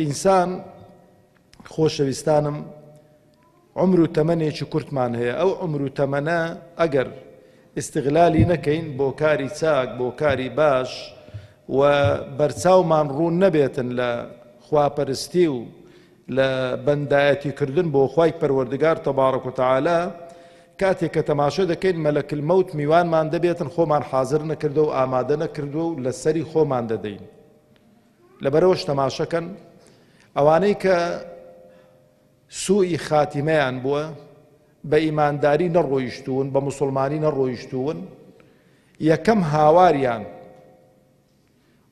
ئینسان خۆشەویستانم عمر و تەمەنێکی کورتمان هەیە ئەو عمر و تەمەنە ئەگەر ئیسیغلالی نەکەین بۆ کاری چاک بۆ کاری باش و بەرچاومان ڕوون نەبێتن لە خواپەرستی و لە بەندایەتی کردن بۆ خی پەروەردگار تەبارەک و تعاالە کاتێک کە تەماشە دەکەین مەلەکل مەوت میوانمان دەبێتن خۆمان حاضر نەکردو و ئامادە نەکردو و لەسەری خۆمان دەدەین لەبەرەوەش تەماشەکەن ئەوانەی کە سوئی خاتیمەیان بووە بە ئیمانداری نەڕۆیشتوون بە مسلمانی نەڕۆیشتوون یەکەم هاواریان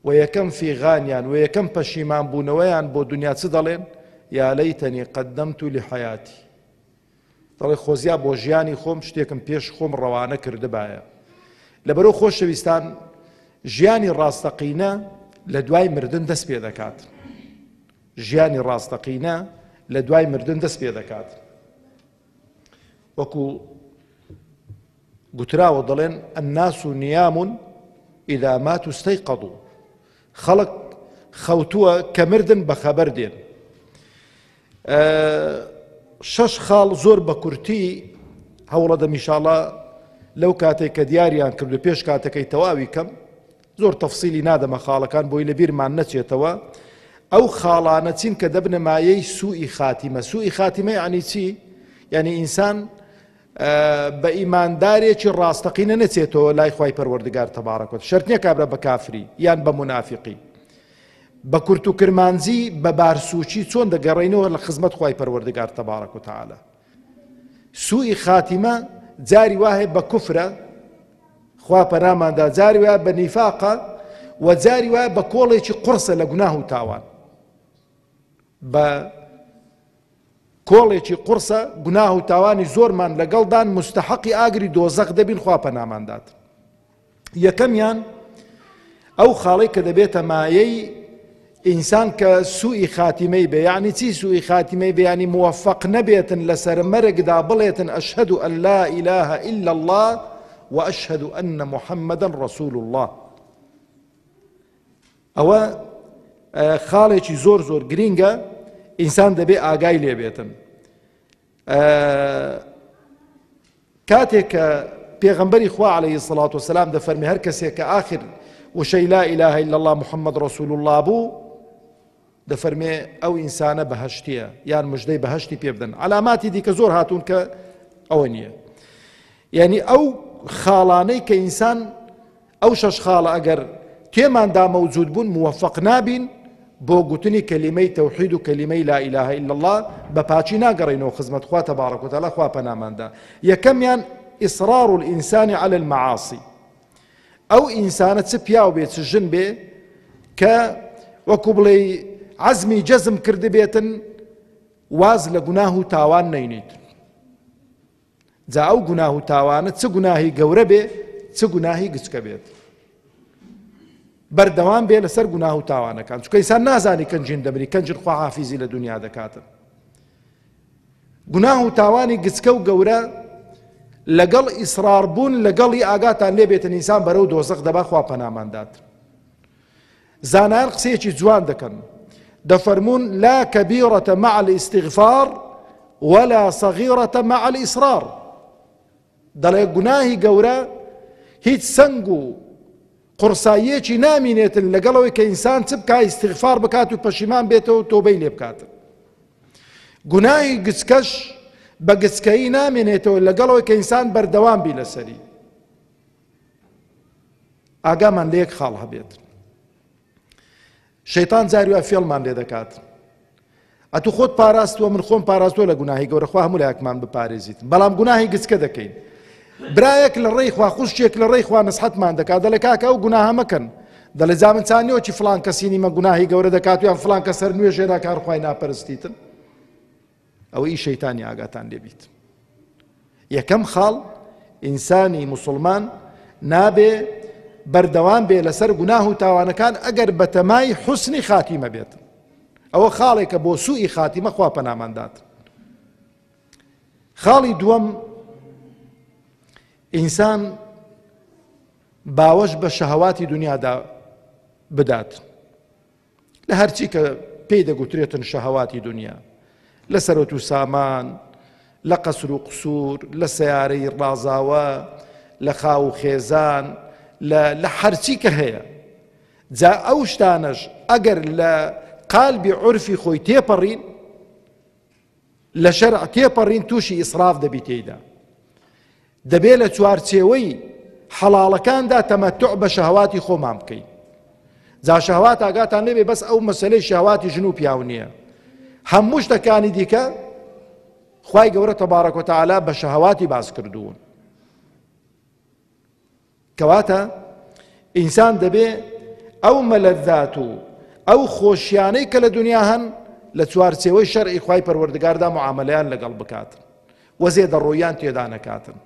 و یەکەم فیغانیان و یەکەم پەشیمان بوونەوەیان بۆ دنیا چ دەڵێن یا لەیتەنی قەدەمت و لە حیاتی دەڵێت خۆزیا بۆ ژیانی خۆم شتێکم پێش خۆم ڕەوانە کردبایە. لەبەرو خۆشەویستان ژیانی ڕاستەقینە لە دوای مردن دەست پێ دەکات. ژیانی ڕاستەقینە لە دوای مردن دەست پێ دەکات. وەکو گوتراوە دەڵێن الناس نیام اذا ماتوا استيقظوا خەڵک خەوتووە کە مردن بەخەبەر دێن. شەش خاڵ زۆر بە کورتی هەوڵەدە میشاڵە لەو کاتێک کە دیاریان کردو پێش کاتەکەی تەواوی کەم زۆر تەفسیلی نادەمە خاڵەکان بۆی لە بیرمان نەچێتەوە ئەو خاڵانە چین کە دەبنە مایەی سوئی خاتیمە سوئی خاتیمە عنی چی یعنی ئینسان بە ئیماندارێکی ڕاستەقینە نەچێتەوە لای خوای پەروەردگار تبارک و شەرت نیە کابرا بە کافری یان بە منافقی بە کورت و کرمانجی بە بارسوچی چۆن دەگەڕینەوە لە خزمەت خوای پەروەردگار تبارک و تعالی سوئی خاتیمە جاری وایە بە کوفرە خوا پەناماندا جاری وایە بە نیفاقە و جاری وایە بە کۆڵێکی قڕسە لە گوناه و تاوان بە کۆڵێکی قوڕسە گوناه و تاوانی زۆرمان لەگەڵدان مستحقی ئاگری دۆزەق دەبین خوا پەنامان دات یەکەمیان ئەو خاڵەی کە دەبێتە مایەی ئینسان کە سوئی خاتیمەی بێ یعنی چی سوئی خاتیمەی بەیانی موفق نەبێتن لەسەر مەرگدا بڵێتن ئەشهد و ئەللا ئیلاه إلا الله وأشهد أن محمدا رسول الله ئەوە خاڵێکی زۆر زۆر گرینگە ئینسان دەبێ ئاگای لێبێتن کاتێک کە پێغمبەری خوا عليه سڵات و سلام دەفەرمی هەر کەسێک کە آخر وشەی لا إله إلا الله محمد رسول الله بوو دەفەرمێ ئەو ئینسانە بەهەشتیە یان مژدەی بەهەشتی پێ بدەن علاماتی دیکە زۆر هاتوون کە ئەوە نییە یعنی ئەو خاڵانەی کە ئینسان ئەو شەش خاڵە ئەگەر تێماندا مەوجود بوون موفق نابین بۆ گوتنی کەلیمەی تەوحید و کەلیمەی لا ئیلاه الا الله بە پاچی ناگەڕینەوە خزمەت خوا تەبارەکوتەلا خوا پەناماندا یەکەمیان ئیسرار الانسان على المعاصی ئەو ئینسانە چ پیاو بێ چ ژن بێ کە وەکو بڵێی عەزمی جەزم کردبێتن واز لە گوناه و تاوان نەینیت جا ئەو گوناه و تاوانە چ گوناهی گەورە بێ چ گوناهی گچکە بێت بەردەوام بێ لەسەر گوناه و تاوانەکان چکەیسان نازانی کەنجین دەبری کەنجر خواحافیزی لە دنیا دەکاتن گوناه و تاوانی گچکە و گەورە لەگەڵ ئیسرار بوون لەگەڵی ئاگاتان لێ بێتن ئینسان بەرەو دۆزەق دەبا خوا پەنامان دات زانایان قسەیەکی جوان دەکەن دەفەرمونون لا کەبیڕەتە مع الاستغفار ولا صغيرة مع الإصرار دەڵێ گوناهی گەورە هیچ سەنگ و قڕساییەکی نامینێتن لەگەڵ ئەوەی کە ئینسان چ بکە ئیستغفار بکات و پەشیمان بێتەوە و تۆبەی لێ بکاتن گوناهی گچکەش بە گچکەیی نامێنێتەوە لەگەڵەوەی کە ئینسان بەردەوام بی لەسەری ئاگامان لە یەک خاڵ هەبێت شەیتان جاری وا فێڵمان لێ دەکات ئەتو خۆت پاراستووە من خۆم پاراستووە لە گوناهی گەورە خوا هەموو لایەکمان بپارێزیت بەڵام گوناهی گچکە دەکەین برایەک لە ڕێی خوا خوشتێک لە ڕێی خوا نسحەتمان دەکات دەڵێ کاکە ئەو گوناهە مەکەن دەڵێ جا من چانیەوە چی فلان کەسینی مە گوناهی گەورە دەکات یان فلان کە سەر نوێژێدا کارخوای ناپەرستیتن ئەوەیی شەیتانی ئاگاتان لێ بیت یەکەم خاڵ ئینسانی موسڵمان نابێ بەردەوام بێ لەسەر گوناه و تاوانەکان ئەگەر بەتەمای حسنی خاتیمە بێت ئەوە خاڵێکە بۆ سوئی خاتیمە خوا پەناماندات خاڵی دووەم ئینسان باوەش بە شەهواتی دنیادا بدات لە هەرچی کە پێی دەگوترێتن شەهواتی دنیا لە سەرۆت و سامان لە قەسر و قسوور لە سیارەی ڕازاوە لە خاو و خێزان لە هەرچی کە هەیە جا ئەو شتانەش ئەگەر لە قالبی عرفی خۆی تێپەڕین لە شەرع تێپەڕین تووشی ئیسراف دەبی تێیدا دەبێ لە چوارچێوەی حەڵاڵەکاندا تەمەتع بە شەهواتی خۆمان بکەین جا شەهوات ئاگاتان نەبێ بەس ئەو مەسلەی شەهواتی ژن و پیاو نییە هەموو شتەکانی دیکە خی گەورە تەبارەکۆتەعالا بە شەهواتی باس کردوون کەواتە ئینسان دەبێ ئەو مەلەزات و ئەو خۆشیانەی کە لە دنیا هەن لە چوارچێوەی شەرعی خوای پەروەردگاردا معاملەیان لەگەڵ بکاتن و زێدەڕۆیان تێدا نەکاتن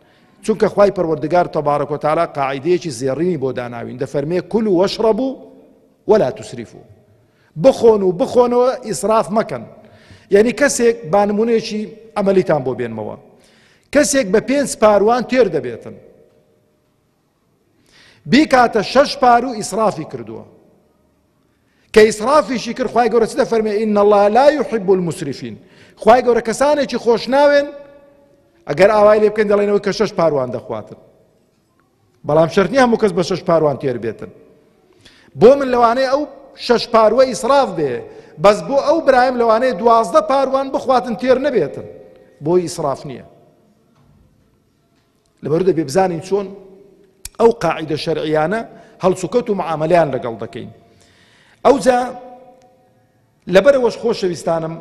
چونکە خوای پەروەردگار تەبارەک و تالا قاعدەیەکی زێڕینی بۆ داناوین دەفەرمێ کول و وەشڕە بوو وەلا تسریف و بخۆن و بخۆنەوە ئیسراف مەکەن یعنی کەسێک بانمونێکی ئەمەلیتان بۆ بێنمەوە کەسێک بە پێنج پاروان تێر دەبێتن بیکاتە شەش پار و ئیسرافی کردووە کە ئیسرافیشی کرد خی گەورە چ دەفەرمێ ئین الله لا يحب المسرفین خی گەورە کەسانێکی خۆش ناوێن ئەگەر ئاوای لێ بکەین دەڵێنەوەی کە شەش پاروان دەخواتن بەڵام شەرنی هەموو کەس بە شەش پاروان تێر بێتن بۆ من لەوانەیە ئەو شەش پاروە ئیسراف بێ بەس بۆ ئەو برایم لەوانەیە دوازدە پاروان بخواتن تێر نەبێتن بۆی ئیسراف نییە لەبەرو دەبێ بزانین چۆن ئەو قاعدە شەرعیانە هەڵسوکەوت و معاملیان لەگەڵ دەکەین ئەوجا لەبەرەوەش خۆشەویستانم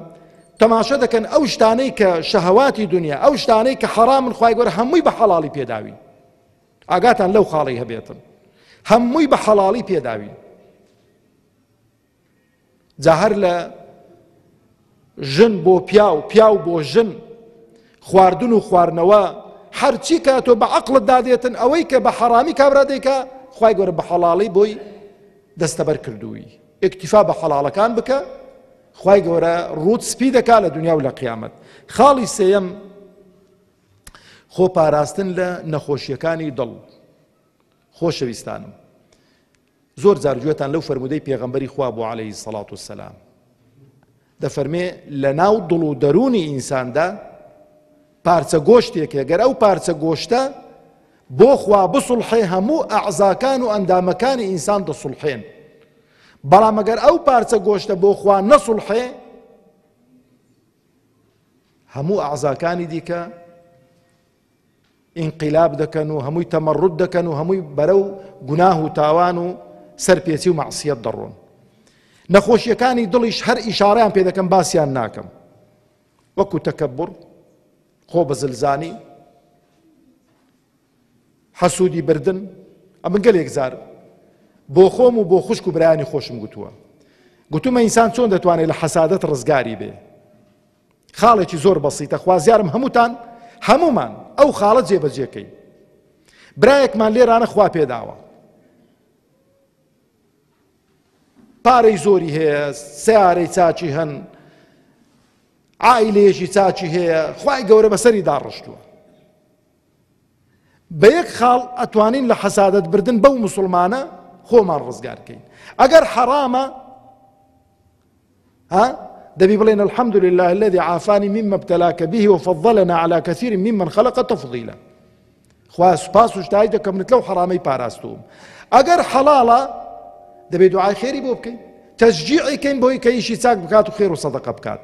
تەماشە دەکەن ئەو شتانەی کە شەهواتی دنیا ئەو شتانەی کە حەرامن خی گەۆر هەمووی بە حەڵی پێداوین ئاگاتان لەو خاڵی هەبێتن هەمووی بە حەڵی پێداوین جا هەر لە ژن بۆ پیاو پیاو بۆ ژن خواردن و خواردنەوە هەرچی کە تۆ بە عقلت دادێتن ئەوەی کە بە حەرامی کابرا دەیکە خی گەورە بە حەڵاڵی بۆی دەستەبەر کردووی ئەکتیفا بە حەڵاڵەکان بکە خی گەورە ڕوت سپی دەکا لە دنیا و لە قیامەت خاڵی سێەم خۆ پاراستن لە نەخۆشیەکانی دڵ خۆشەویستانم زۆر جار گوێتان لەو فەرموودەی پێغەمبەری خوا بوو عەلەیهی الصڵاة والسلام دەفەرمێ لە ناو دڵ و دەروونی ئینساندا پارچە گۆشتێکە گەر ئەو پارچە گۆشتە بۆ خوا بسڵحێ هەموو ئەعزاکان و ئەندامەکانی ئینسان دەسڵحێن بەڵام ئەگەر ئەو پارچە گۆشتە بۆ خوا نەسڵحێ هەموو ئەعزاکانی دیکە ئینقیلاب دەکەن و هەمووی تەمەڕود دەکەن و هەمووی بەرەو گوناه و تاوان و سەرپێچی و مەعسیەت دەڕۆن نەخۆشیەکانی دڵیش هەر ئیشاڕیان پێ دەکەم باسیان ناکەم وەکو تەکەبڕ خۆ بە زلزانی حەسوودی بردن ئەمن گەلێک زار بۆ خۆم و بۆ خوشک و برایانی خۆشم گوتووە گوتومە ئینسان چۆن دەتوانێت لە حەسادت ڕزگاری بێ خاڵێکی زۆر بەسیتە خوازیارم هەمووتان هەموومان ئەو خاڵە جێبەجێکەین برایەکمان لێرانە خوا پێداوە پارەی زۆری هەیە سیارەی چاچی هەن ئایلێژی چاچی هەیە خی گەورە بەسەری داڕشتووە بە یەک خاڵ ئەتوانین لە حەسادەت بردن بەو موسڵمانە خۆمان ڕزگار کەین ئەگەر حەرامە ها دەبی بڵێن الحمد لله الذي عافاني مما ابتلاك به وفضلنا على كثير ممن خلق تفضيلا خوا سپاس و شتای دەکەم منت لەو حەرامەی پاراستوم ئەگەر حەڵاڵە دەبێت دوعای خێری بۆ بکەین تەشجیعی کەین بۆی کە ئیشی چاک بکات و خێر و سەدەقە بکات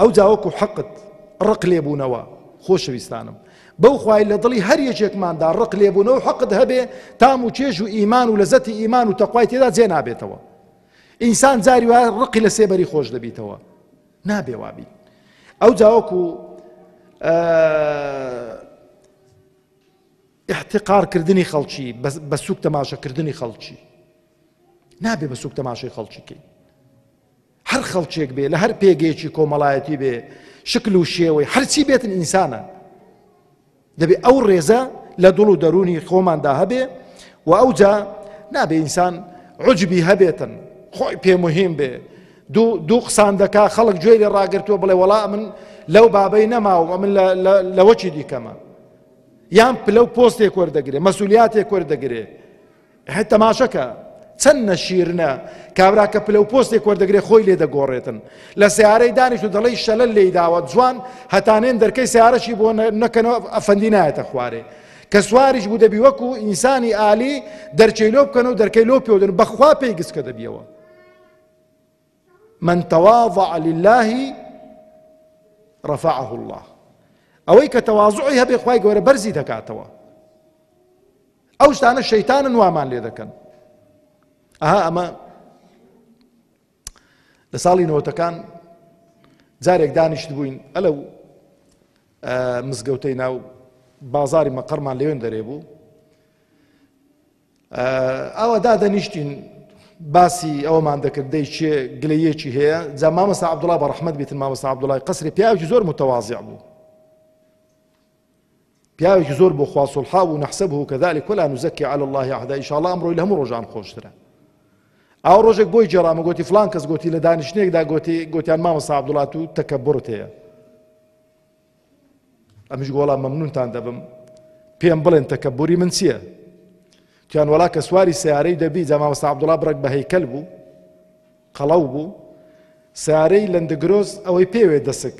ئەوجا وەکو حەقت ڕق لێبوونەوە خۆشەویستانم بەو خوای لە دڵی هەر یەکێکماندا ڕق لێبوونەوە حەقت هەبێ تام و چێژ و ئیمان و لەزەتی ئیمان و تەخوای تێدا جێ نابێتەوە ئینسان جاری وایە ڕقی لە سێبەری خۆش دەبیتەوە نابێ وابی ئەو جاوەکو احتقارکردنی خەڵکی بە سوک تەماشەکردنی خەڵکی نابێ بە سوک تەماشای خەڵکیکەی هەر خەڵکێک بێ لە هەر پێگەیەکی کۆمەڵایەتی بێ شکل و شێوەی هەرچی بێتن ئینسانە دەبێ ئەو ڕێزە لە دڵ و دەرونی خۆماندا هەبێ و ئەوجا نابێ ئینسان عجبی هەبێتن خۆی پێ مهم بێ دوو قسان دەکا خەڵک گوێ لێ ڕاگرتووە بڵێ وەڵا من لەو بابەی نەماوە من لەوەکی دیکەمە یان پلە و پۆستێک وەردەگرێ مەسولیاتێک وەردەگرێ هەر تەماشەکە چەند نەشیرنە کابرا کە پلە و پۆستێک وەردەگرێ خۆی لێ دەگۆڕێتن لە سیارەی دانیش و دەڵی شەلە لێی داوە جوان هەتانێن دەرکەی سیارەشی بۆ نەکەنەوە ئەفەندی نایەتە خوارێ کە سواریش بوو دەبی وەکو ئینسانی عالی دەرچەی لۆ بکەن و دەرکەی لۆ پێودن بەخوا پێی گسکە دەبیەوە من تواضع لله رفعه الله ئەوەی کە تەواضعی هەبێ خی گەورە بەرزی دەکاتەوە ئەو شتانە شەیتانن وامان لێ دەکەن ئەها ئەمە لە ساڵی نەوەتەکان جارێک دانیشت بووین ئەلە و مزگەوتەی ناو بازاری مەقەرمان لەوێن دەرێ بوو ئەوە دادەنیشتین باسی ئەومان دەکرد دەی چێ گلەیەکی هەیە جا مامەسا عبدوڵا بە ڕحمد بێتن مامەسا عبدوڵای قسری پیاوی زۆر متەوازیع بوو پیاوێکی زۆر بۆ خوا سوڵحاو و نەحسەبه کەذالک ولا نزکی علی الله احدا ئیشاڵا ئەمڕۆی لە هەموو ڕۆژان خۆشترە ئاو ڕۆژێک بۆی جێرامە گوتی فلان کەس گوتی لە دانیشتنێکدا گوتی گوتیان مامە سابدوڵات و تەکە بڕت هەیە ئەمیش گۆڵا مەمنونتان دەبم پێم بڵێن تەکە بوری من چییە تیان وڵا کە سواری سیارەی دەبی جا مامە سابدوڵا بڕێک بە هەیکەل بوو قەڵەو بوو سارەی لەندەگرۆز ئەوەی پێوێ دەسک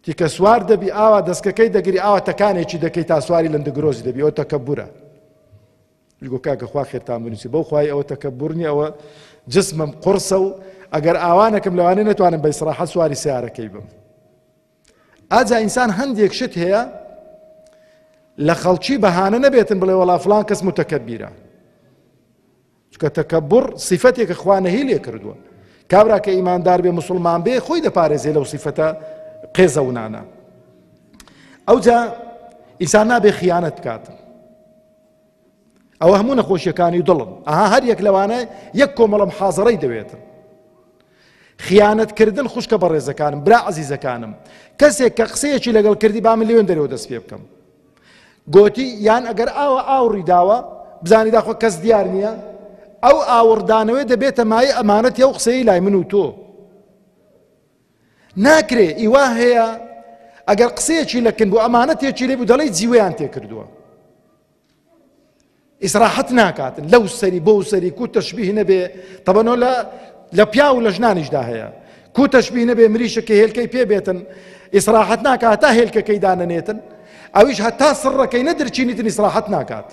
تیکە سوار دەبی ئاوا دەسکەکەی دەگری ئاوا تەکانێکی دەکەی تا سواری لەندگرۆزی دەبی ئەو تەکەبورە گو کاکە خوا خێرتان بنووسی بەو خوای ئەوە تەکەبورنی ئەوە جسمم قڕسە و ئەگەر ئاوانەکەم لەوانێ نەتوانم بە ئیسراحەت سواری سیارەکەی بم ئاجا ئینسان هەندێک شت هەیە لە خەڵکی بەهانە نەبێتن بڵێ وەڵا فلان کەس متەکەبیرە چونکە تەکەبوڕ سیفەتێکە خوا نەهی لێ کردووە کابرا کە ئیماندار بێ مسلمان بێ خۆی دەپارێزێ لەو سیفەتە قێزەونانە ئەوجا ئینسان نابێ خیانەت بکات ئەوە هەموو نەخۆشیەکانی و دڵم ئەها هەر یەک لەوانە یەک کۆمەڵم حازڕەی دەوێتن خیانەتکردن خوشکە بەڕێزەکانم برا عزیزەکانم کەسێک کە قسەیەکی لەگەڵ کردی با من لێن دەرەوە دەست پێ بکەم گۆتی، یان ئەگەر ئاوە ئاوڕی داوە، بزانی داخۆ کەس دیار نییە؟ ئەو ئاوڕدانەوەی دەبێتە مایەی ئەمانەتی ئەو قسەی لای من و تۆ ناکرێ ئیوا هەیە ئەگەر قسەیەکی لەکن بۆ ئەمانەتێکی لێ بوو دەڵی جیوەیان تێکردووە ئیسراحەت ناکات لەو سەری بۆو سەری کو تەشبیه نەبێ تەبەنۆ لە لە پیا و لە ژنانیشدا هەیە کو تەشبیه نەبێ مریشە کە هێلکەی پێ بێتن ئیسراحەت ناکات تا هێلکەکەی دانەنێتن ئەویش هەتا سڕەکەی نەدرچینیتن ئیسراحەت ناکات.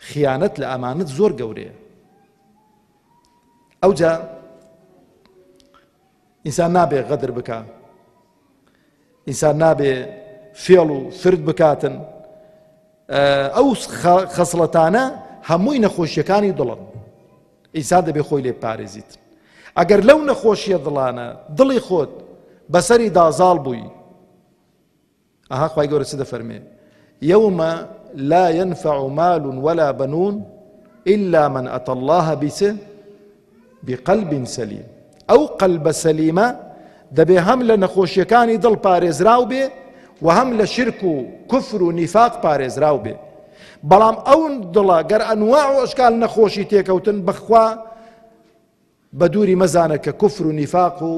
خیانەت لە ئەمانەت زۆر گەورەیە ئەوجا ئینسان نابێ غەدر بکە ئینسان نابێ فێڵ و فرد بکاتن ئەو خەسڵەتانە هەمووی نەخۆشیەکانی دڵن ئینسان دەبێ خۆی لێ پارێزیت ئەگەر لەو نەخۆشیە دڵانە دڵی خۆت بەسەری دازاڵ بووی ئەها خوای گەورە چ دەفەرمێ یەومە لا ينفع مال ولا بنون إلا من أتى الله بچ بقلب سليم ئەو قەلبە سەلیمە دەبێ هەم لە نەخۆشیەکانی دڵ پارێزراو بێ و هەم لە شرک و کفر و نیفاق پارێزراو بێ بەڵام ئەو دڵە گەر ئەنوا و ئەشکال نەخۆشی تێکەوتن بەخوا بە دووری مەزانە کە کفر و نیفاق و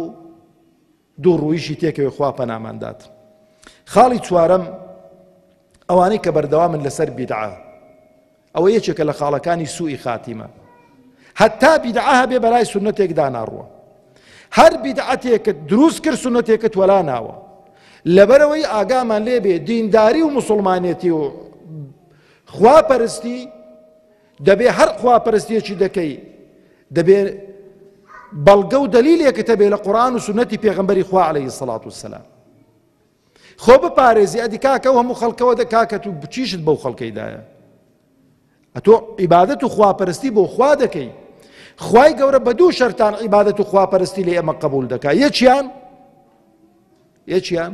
دوو ڕوویشی تێکەوێ خوا پەنامان دات خاڵی چوارەم ئەوانەی کە بەردەوامن لەسەر بیدعا ئەوە یەکێکە لە خاڵەکانی سوئی خاتیمە هەتا بیدعا هەبێ بەرای سنەتێک داناڕوە هەر بیدعەتێکت دروست کرد سنەتێکت وەلا ناوە لەبەرەوەی ئاگامان لێبێ دینداری و مسلمانێتی و خواپەرستی دەبێ هەر خواپەرستیەکی دەکەی دەبێ بەڵگە و دەلیلێکت هەبێ لە قورآن و سنەتی پێغمبەری خوا عليه الصلاة والسلام خۆ بپارێزی ئەدی کاکە و هەموو خەڵکەوە دە کاکەت و بچیشت بەو خەڵکەیدایە ئەتۆ عیبادەت و خواپەرستی بۆ خوا دەکەی خوای گەورە بە دوو شەرتان عیبادەت و خواپەرستی لە ئێمە قبول دەکا یەکیان یەکیان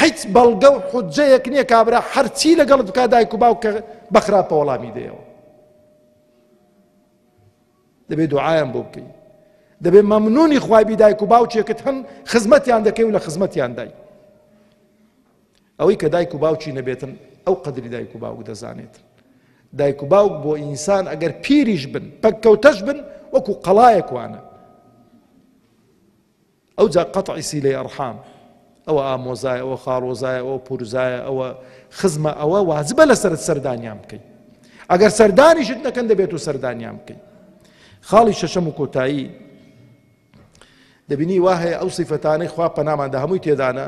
هیچ بەڵگە و حوججەیەک نیە کابرا هەرچی لەگەڵت بکات دایک و باوکت بەخراپە وەڵامی دەیەوە دەبێت دوعایان بۆ بکەی دەبێت مەمنونی خوابی دایک و باوکێکت هەن خزمەتیان دەکەی و لە خزمەتیان دای ئەوەی کە دایک و باوکی نەبێتن ئەو قدری دایک و باوک دەزانێت دایک و باوک بۆ ئینسان ئەگەر پیریش بن پەککەوتەش بن وەکو قەڵایەکوانە ئەوجا قطع صیلەی ارحام ئەوە ئامۆزایە ئەوە خاڵۆزایە ئەوە پورزایە ئەوە خزمە ئەوە واجبە لەسەرت سەردانیان بکەی ئەگەر سەردانیشت نەکەن دەبێت و سەردانیان بکەی خاڵی شەشەم و کۆتایی دەبینی وا هەیە ئەو سیفەتانەی خوا پەناماندا هەمووی تێدانە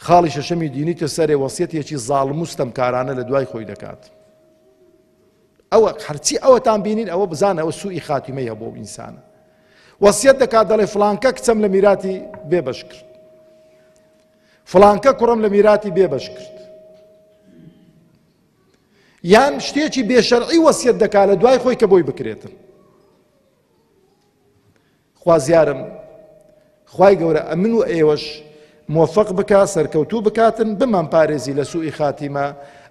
خاڵی شەشەمی دینیتە سەرێ وەسیەتێکی زاڵم و ستەمکارانە لە دوای خۆی دەکات ئەوە هەرچی ئەوەتان بینین ئەوە بزانە ئەوە سوئی خاتیمەی هەبوو ئینسانە وەسیەت دەکات دەڵێ فلانکە کچەم لە میراتی بێبەش کرد فلانکە کوڕم لە میراتی بێبەش کرد یان شتێکی بێشەرعی وەسیەت دەکات لە دوای خۆی کە بۆی بکرێتن خوازیارم خوای گەورە ئەمن و ئێوەش مۆفەق بکا سەرکەوتوو بکاتن بمان پارێزی لە سوئی خاتیمە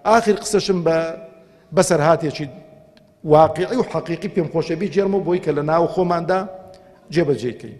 ئاخر قسەشم بە بەسەرهاتێکی واقعی و حەقیقی پێم خۆشەبی جێرمە بۆی کە لە ناو خۆماندا جێبەجێکەین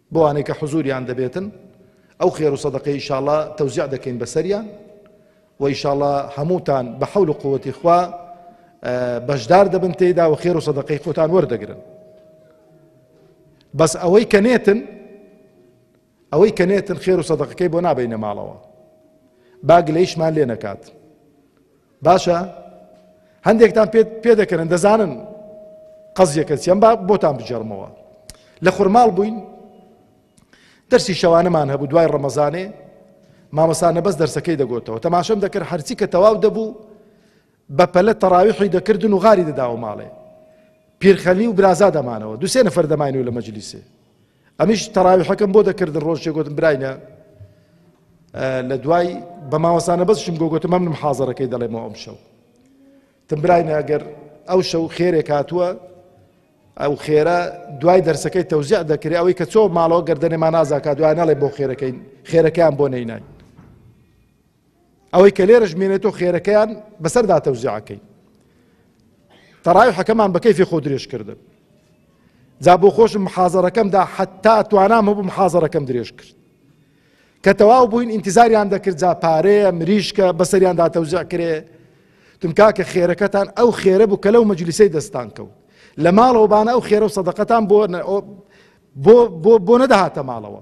بەوانەی کە حزوریان دەبێتن ئەو خێرو سەدەقەی ئیشاڵا تەوزیع دەکەین بەسەریان و ئیشاڵا هەمووتان بە حەول و قوتی خوا بەشدار دەبن تێدا و خێر و سەدەقەی خۆتان وەردەگرن بەس ئەوەی کە نێتن ئەوەی کە نێتن خێر و سەدەقەکەی بۆ نابینە ماڵەوە باگ لەیشمان لێ نەکات باشە هەندێکتان پێ دەکەن دەزانن قەزیەکە چیان با بۆتان بجێڕمەوە لە خورماڵ بووین دەرسی شەوانەمان هەبوو دوای ڕەمەزانێ مامەسانە بەس دەرسەکەی دەگوتەوە تەماشەم دەکرد هەرچی کە تەواو دەبوو بە پەلە تەراویحی دەکردن و غاری دەداوە ماڵێ پیرخەلی و برازا دەمانەوە دوسێ نەفەر دەماینەوە لە مەجلیسێ ئەمیش تەراویحەکەم بۆ دەکردن ڕۆژێک گوتم براینە لە دوای بە ماوەسانە بەسشم گۆگوتم ئەمنم حازەرەکەی دەڵێمەوە ئەم شەو تم براینە ئەگەر ئەو شەو خێرێک هاتووە ئەو خێرە دوای دەرسەکەی تەوزیع دەکرێت ئەوەی کە چۆ ماڵەوە گردنێمان نازاکات دوای ناڵێ بۆ خێرەکەین خێرەکەیان بۆ نەیناین ئەوەی کە لێرەش مێنێتۆ خێرەکەیان بەسەردا تەوزیعەکەی تەڕایحەکەمان بە کەیفی خۆ درێژ کردن جا بۆ خۆشم محازەرەکەمدا حتا توانام هەبوو محازەرەکەم درێژ کرد کە تەواو بووین ئینتیزاریان دەکرد جا پارەیە مریشکە بەسەریاندا تەوزع کرێ تمکاکە خێرەکەتان ئەو خێرە بوو کە لەو مەجلیسەی دەستان کەوت لە ماڵەوە بانە ئەو خێرە و سەدەقەتان بۆ بۆ بۆ بۆ نەدەهاتە ماڵەوە